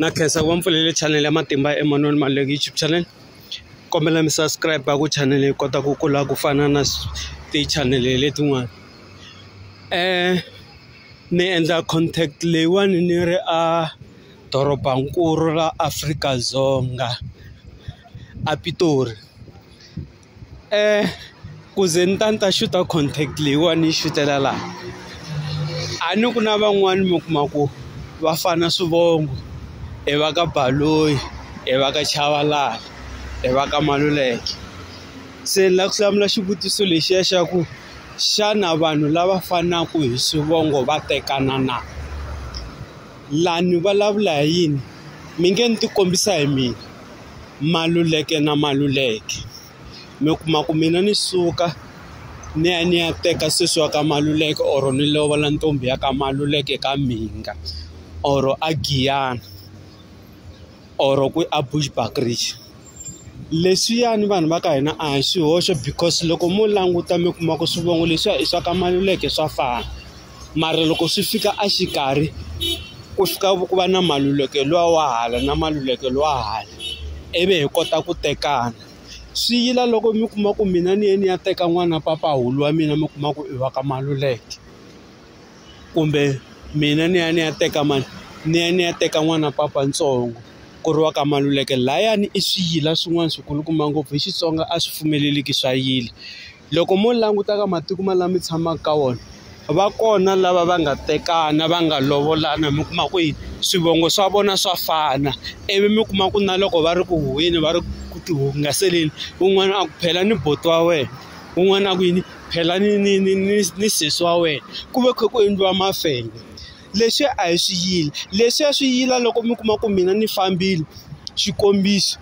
na khensa ku va mi pfulele chanele ya matimba Emmanuel Maluleke YouTube channel kombela mi subscribe ku chanele yi kota ku kula ku fana na tichanele letin'wana um ni endla contact leyiwani ni ri a dorobankulu ra Afrika-Dzonga a Pitori. ku ze ni ta ni ta xuta contact leyiwani ni yi xutela laha a ni ku na van'wani mi kuma ku va fana swivongo i va ka Baloyi i va ka Chavalala i va ka Maluleke se ni lava ku hlamula xivutiso lexiya xa ku xana vanhu lava fanaka hi swivongo va tekana na laha ni vulavula hi yini mi nge ni ti kombisa hi mina. Maluleke na Maluleke mi kuma ku mina ni suka ni ya ni ya teka sesi wa ka Maluleke or ni lovola ntombi ya ka Maluleke ka Mhinga or a Giyani or ku a Bushbuckridge leswiyani vanhu va ka hina a hi swihoxo because loko mo languta mi kuma ku swivongo leswiya i swa ka Maluleke swa fana. mara loko swi fika a xikarhi ku fika ku va na maluleke luwa wa hala na maluleke luwa hala ivi hi kota ku tekana swi yila loko mi kuma ku mina ni ye ni ya teka n'wana mpapahulu wa mina mi kuma ku i wa ka maluleke kumbe mina ni ya ni ya teka mani ni ya ni ya teka n'wana papa ntsongo ku ri wa ka maluleke layani i swi yila swin'wana swi kulukumba ngopfu hi Xitsonga a swi pfumeleliki swa yila. loko mo languta ka matiko ma lama mi tshamaka ka wona va kona lava va nga tekana va nga lovolana mi kuma ku yini swivongo swa vona swa fana ivi mi kuma ku na loko va ri ku huhweni va ri ku ti hungaseleni un'wana a ku phela ni buti wa wena un'wana a ku yini phela ni ni ni ni ni sesi wa wena ku ve kha ku endliwa mafenya leswi a hi swi yila leswiya swi yila loko mi kuma ku mina ni fambile xikombiso.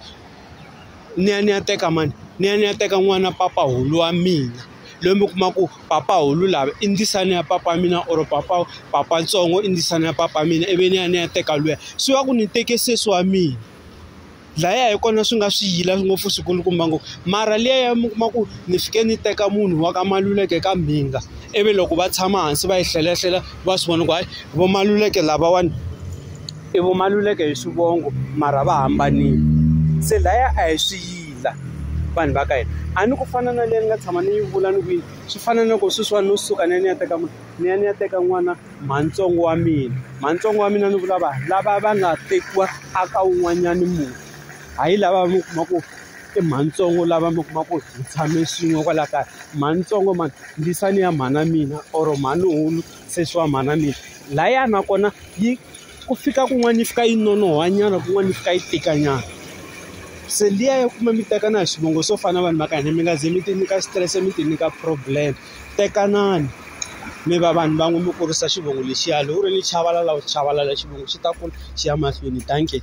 ni ya ni ya teka mani ni ya ni ya teka n'wana papahulu wa mina loyi mi kuma ku papahulu lava i ndzisane ya papa mina or papa papa ntsongo i ndzisane ya papa mina ivi ni ya ni ya teka luya swi va ku ni teke sesi wa mina laya hi kona swi nga swi yila ngopfu swi kulukumba ngopfu mara liya ya mi kuma ku ni fike ni teka munhu wa ka maluleke ka mbinga ivi loko va tshama hansi va yi hlelahlela va swi vona ku hayi vo maluleke lavawani. i vo Maluleke hi swivongo mara va hambanile se laya a hi swi yila vanhu va ka hina a ni ku fana na leyi ni nga tshama ni yi vula ni ku yini swi fana na ku sweswiwani no suka ni ya ni ya teka ni ya ni ya teka n'wana mhantsongo wa mina mhantsongo wa mina ni vula vanhu lava va nga tekiwa a ka wun'wanyani munhu hayi lava mi kuma ku i mhantsongo lava mi kuma ku hi tshame swin'we kwala kaya mhantsongo mhani ndzisani ya mhana mina or mhani hulu sesi wa mhana mina laya nakona yi. ku fika kun'wana yi fika yi nonohwanyana kun'wana yi fika yi tikanyana se liya ya kuma mi tekana hi swivongo swo fana na vanhu va ka hina mi nga ze mi ti nyika xitirese mi ti nyika problem tekanani mi va vanhu van'we mi kurisa xivongo lexiya loko u ri ni chavalala u chavalala xivongo xi ta kula xi ya mahlweni dankie.